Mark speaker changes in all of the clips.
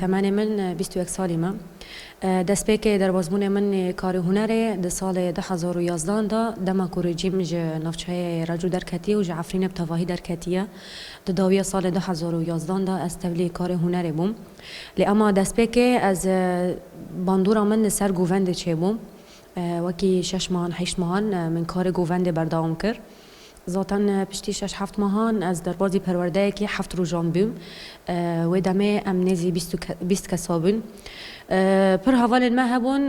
Speaker 1: Temenê min bîst û yek salî me. Destpêkê derbasbûnê min ê karê hunerê di salê du hezar û yazdan de dema ku rejîm ji navçeyê Recû derketiye û ji Efrînê bi tevahî derketiye. Di dawiya salê du hezar û yazdan de ez tevlî karê hunerê bûm. Lê ema destpêkê ez bandora min li ser govendê çêbû. Wekî şeş mehan, heşt mehan min karê govendê berdewam kir. Zaten piştî şeş heft mehan ez derbazî perwerdeyekî heft rojan bûm. Wê demê em nêzî bîst û bîst kesa bûn. Pir hevalên me hebûn,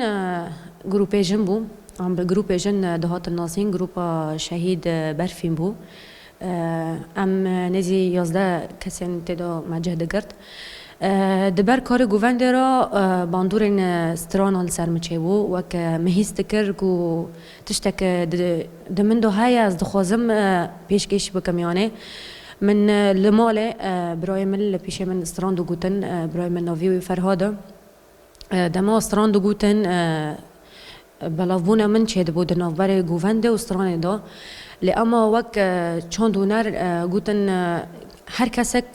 Speaker 1: grûpê jin bû. Em bi grûpê jin dihatin nasîn, grûpa Şehîd Berfîn bû. Em nêzî yazdeh kesên tê de me cih digirt. Di ber karê govendê re bandorên stranan li ser min çêbû. Wek me hîs dikir ku Tiştek di min de heye ez dixwazim pêşkêş bikim yanê min li malê birayê min li pêşê min stran digotin birayê min navê wî Ferhad e dema stran digotin belavbûna min çêdibû di navberê govendê û stranê de lê ema wek çand hûner gotin her kesek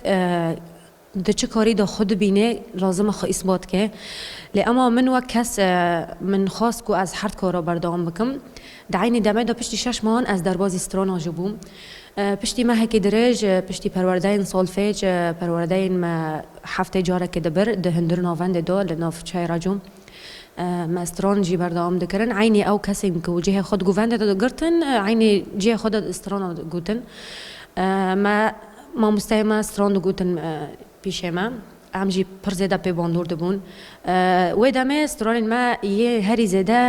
Speaker 1: Di çi karî de xwe dibîne lazim e xwe îsbat ke. Lê ema min wek kes min xwest ku ez her di kara berdewam bikim. Di eynî demê de piştî şeş mehan ez derbazî strana jî bûm. Piştî mehekî dirêj piştî perwerdeyên solfej perwerdeyên me heftê carekê di bir di hundir navendê de li nav çayê re cûm. Me stran jî berdewam dikirin. Eynî ew kesên ku cihê xwe di guvendê de digirtin eynî cihê xwe de strana gotin. Me. Mamosteyên me stran digotin pîşê me, em jî pir zêde pê bandor dibûn. Wê demê stranên me yê herî zêde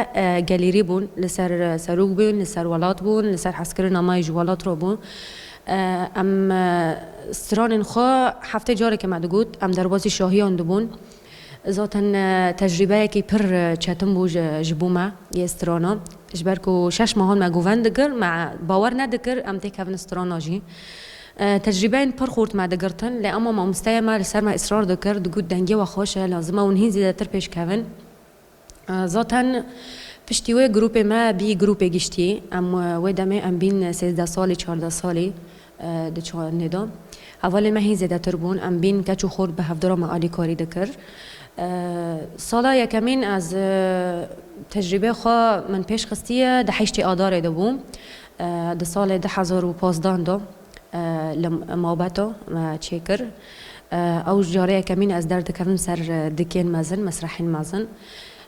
Speaker 1: gelêrî bûn, li ser serok bûn, li ser welat bûn, li ser hezkirina me yê ji welat re bû. Em stranên xwe heftê carekê me digot, em derbasî şahiyan dibûn. Zaten tecrîbeyekî pir çetin bû ji bo me yê strana. Ji ber ku şeş mehan me guven dikir, me bawer nedikir em tê kevin strana jî. Tecrîbeyên pir xurt me digirtin lê ema mamosteyê me li ser me îsrar dikir, digot dengê we xweş e, lazim e hûn hîn zêdetir pêş kevin. Zaten piştî wê grûpê me bî grûpê giştî. Em wê demê em bîn sêzdeh salî, çardeh salî di çandê de. Hevalên me hîn zêdetir bûn. Em bîn keç û xort bi hevdira me alîkarî dikir. Sala yekemîn ez tecrîbê xwe min pêş xistiye di heştê adarê de bû di salê du hezar û pazdeh de. Li Mawbeto me çê kir. Ew carê yekemîn ez derdikevim ser dikên mezin, mesrehên mezin.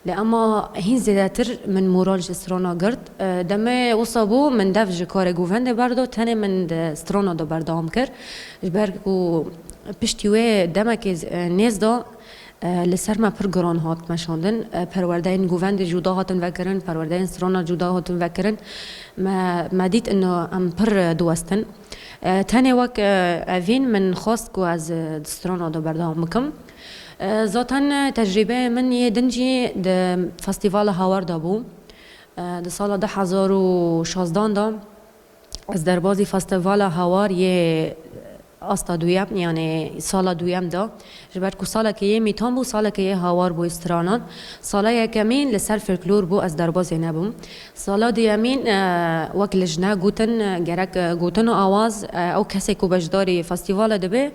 Speaker 1: Lê ema hîn zêdetir min moral ji strana girt. Demê wisa bû min dev ji karê govendê berda tenê min di strana de berdewam kir. Ji ber ku piştî wê demekê nêz da Li ser me pir giran hat meşandin. Perwerdeyên govendê cuda hatin vekirin, perwerdeyên strana cuda hatin vekirin. Me me dît ino em pir diwestin. Tenê wek evîn min xwest ku ez di strana de berdewam bikim. Zaten tecrîbeyê min yê din jî di Festîvala Hawar de bû. Di sala du hezar û şazdan de Ez derbazî Festîvala Hawar yê asta duyem yanê sala duyem de ji ber ku saleke yê mîtan bû saleke yê hawar bû stranan. Sala yekemîn li ser folklor bû ez derbazê nebûm. Sala duyemîn wek li jina gotin gerek gotin û awaz ew kesê ku beşdarî festîvala dibe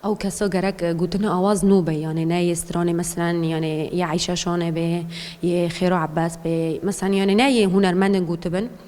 Speaker 1: ew kesa gerek gotin û awaz nû be yanê ne yê stranê meselen yanê yê Eyşa Şanê bê yê Xêro Ebas bê meselen yanê ne yê hunermendên gotibin.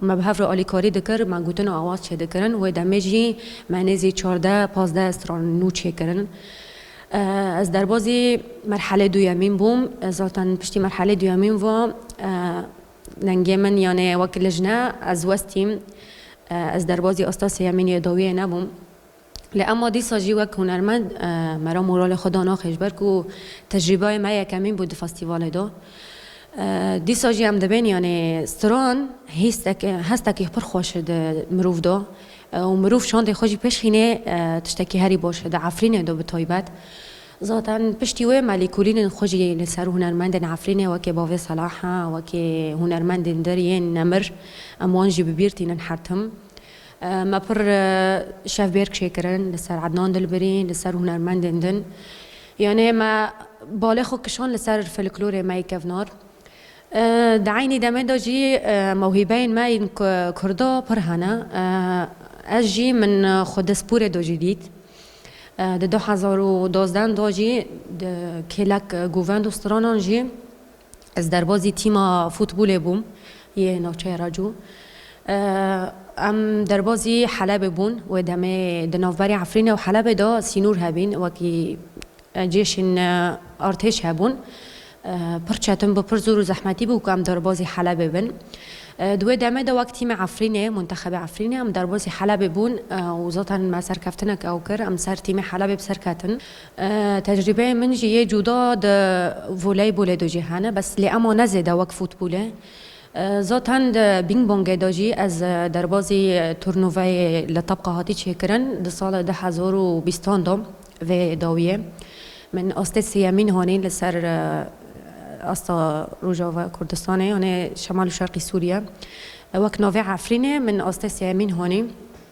Speaker 1: Me bi hev re alîkarî dikir, me gotin û awaz çêdikirin. Wê demê jî me nêzî çardeh, pazdeh stran nû çêkirin. Ez derbazî merhelê duyemîn bûm. Zaten piştî merhelê duyemîn ve dengê min yanê wek lijne ez westîm. Ez derbazî asta sêyemîn yê dawiyê nebûm. Lê ema dîsa jî wek hunermend me re moralê xwe da nexêş ber ku tecrîbeyê me yekemîn bû di festîvalê de. Dîsa jî em dibên yanê stran hîstek hestekî pir xweş e di mirov de û mirov şandê xwe jî pêşxînê tiştekî herî baş e di Efrînê de bi taybet. Zaten piştî wê me lêkolînên xwe jî li ser hunermendên Efrînê wekê bavê Selaha, wekê hunermendên dir yên nemir em wan jî bi bîr tînin her tim. Me pir şevbêrk çêkirin li ser Ednan Dilbirî, li ser hunermendên din. Yanê me balê xwe kişand li ser filiklorê me yê kevnar. Di eynî demê de jî mewhîbeyên me yên kurda pir hene. Ez jî min xwe di sporê de jî dît. Di du hezar û dozdeh de jî di kêlek govend û stranan jî Ez derbazî tîma futbolê bûm yê navçeya Racû. Em derbazî Helebê bûn. Wê demê di navberê Efrînê û Helebê de sînor hebîn wekî cêşên artêş hebûn. Pir çetin bû, pir zor û zehmetî bû ku em derbazî Helebê bin. Di wê demê de wek tîmê Efrînê, muntexebê Efrînê em derbazî Helebê bûn û zaten me serkeftinek ew kir, em ser tîmê Helebê bi ser ketin. Tecrîbeyê min jî yê cûda di voleybolê de jî hene bes lê ema ne zêde wek futbolê. Zaten di bîngbongê de jî ez derbazî turnuveyê li Tabqa hatî çêkirin di sala du hezar û bîstan de vê dawiyê min astê sêyemîn hanî li ser asta Rojava Kurdistanê yanê Şemal û Şerqî Sûriye. Wek navê Efrînê min astê sêyemîn hanî.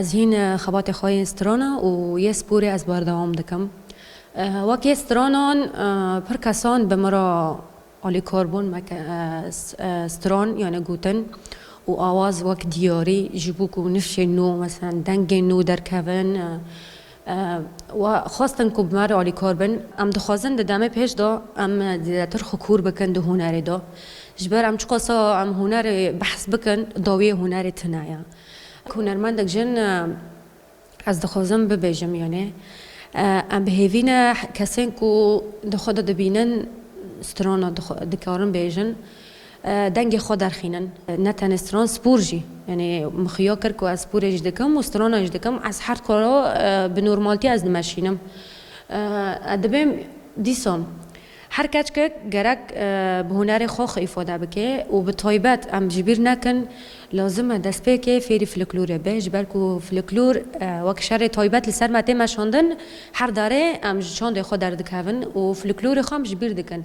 Speaker 1: Ez hîn xebatê xwe yên strana û yê sporê ez berdewam dikim. Wek yê stranan pir kesan bi min re alîkar bûn me ke stran yanê gotin û awaz wek diyarî ji bo ku nifşên nû meselan dengên nû derkevin we xwestin ku bi me re alîkar bin. Em dixwazin di demê pêş de em zêdetir xwe kûr bikin di hunerê de. Ji ber em çiqasa em hunerê behs bikin dawiyê hunerê tune ye. Hunermendek jin ez dixwazim bibêjim yanê em bi hêvî ne kesên ku di xwe de dibînin strana dikarin bêjin dengê xwe derxînin. Ne tenê stran spor jî yanê min xuya kir ku ez sporê jî dikim û strana jî dikim ez her karo bi normaltî ez dimeşînim. Dibêm dîsan. Her keçkek gerek bi hunerê xwe xwe îfade bike û bi taybet em ji bîr nekin lazim e destpêkê fêrî fliklûrê be ji ber ku fliklûr wek şerê taybet li ser me tê meşandin her darê em ji çandê xwe derdikevin û fliklûrê xwe em ji bîr dikin.